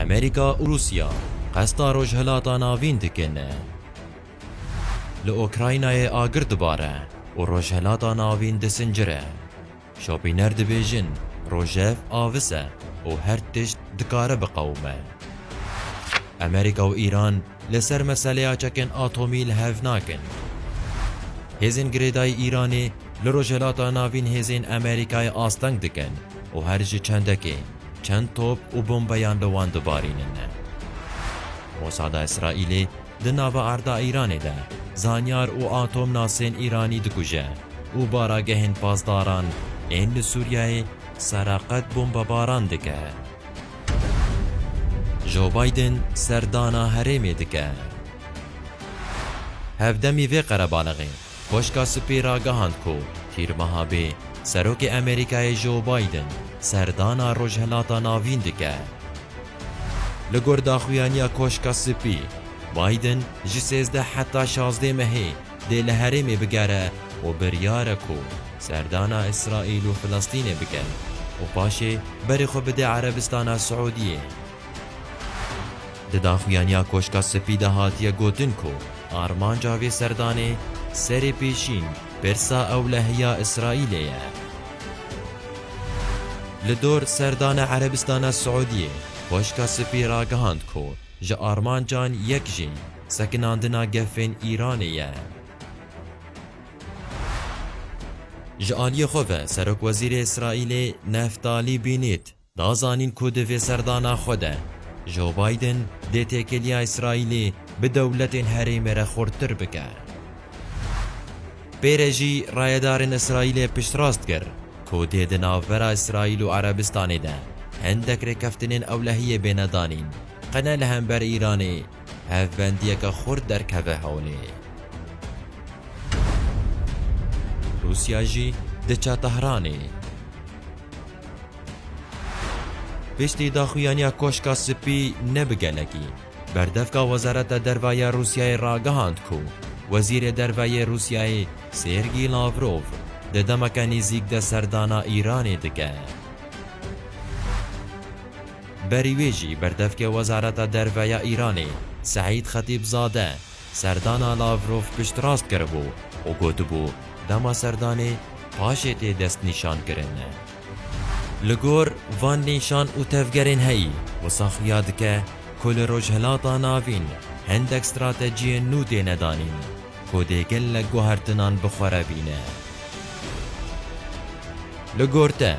Amerîka û Rûsya qesta Rojhilata Navîn dikin. Li Okraynayê agir dibare û Rojhilata Navîn disincire. Şopîner dibêjin rojev avis e û her tişt dikare biqewime. Amerîka û Îran li ser meseleya çekên atomî li hev nakin. Hêzên girêdayî Îranê li Rojhilata Navîn hêzên Amerîkayê asteng dikin. û her ji çendekê çend top û bombeyan li wan dibarînin. Mosada Îsraîlê di nava erda Îranê de zanyar û atomnasên Îranî dikuje û baragehên pasdaran ên li Sûriyeyê sereqet bombebaran dike. Joe Biden serdana herêmê dike. Hevdemî vê qerebalixê Koşka Spî ragihand ku tîrmeha bê Serokê Amerîkayê Joe Biden serdana Rojhilata Navîn dike. Li gor daxuyaniya Koşka Spî, Biden ji sêzdeh heta şazdeh mehê dê li herêmê bigere û biryar e ku serdana Îsraîl û Filistînê bike û paşê berê xwe bide Erebistana Siûdiyê. Di daxuyaniya Koşka Spî de hatiye gotin ku armanca vê serdanê serê pêşîn pirsa ewlehiya Îsraîlê ye. Li dor serdana Erebistana Siûdiyê, Koşka Spî ragihand ku ji armancan yek jî sekinandina gefên Îranê ye. Ji aliyê xwe ve Serokwezîrê Îsraîlê Neftalî Bînît Da zanîn ku di vê serdana xwe de Joe Biden dê têkiliya Îsraîlê bi dewletên herêmê re xurttir bike. Pê re jî rayedarên Îsraîlê piştrast kir ku dê di navbera Îsraîl û Erebistanê de hindek rêkeftinên ewlehiyê bêne danîn qe ne li hember Îranê hevbendiyeke xurt derkeve holê. Rûsya jî diçe Tehranê. Piştî daxuyaniya Koşka Spî ne bi gelekî, berdevka Wezareta Derve ya Rûsyayê ragihand ku Wezîrê Derve yê Rûsyayê Sêrgî Lavrov di demeke nêzîk de serdana Îranê dike. Berî wê jî berdevkê Wezareta Derve ya Îranê Seîd Xetîbzade, Serdana Lavrov piştrast kiribû û gotibû dema serdanê paşê tê destnîşankirin. Li gor van nîşan û tevgerên heyî, wisa xuya dike ku li Rojhilata Navîn hindek stratejiyên nû têne danîn ku dê gelek guhertinan bi xwe re bîne. Li gor te,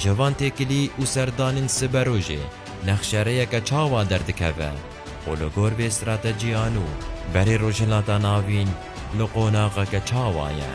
ji van têkilî û serdanên siberojê nexşereyeke çawa derdikeve? û li gor vê stratejiyan û berê Rojhilata Navîn li qonaxeke çawa ye?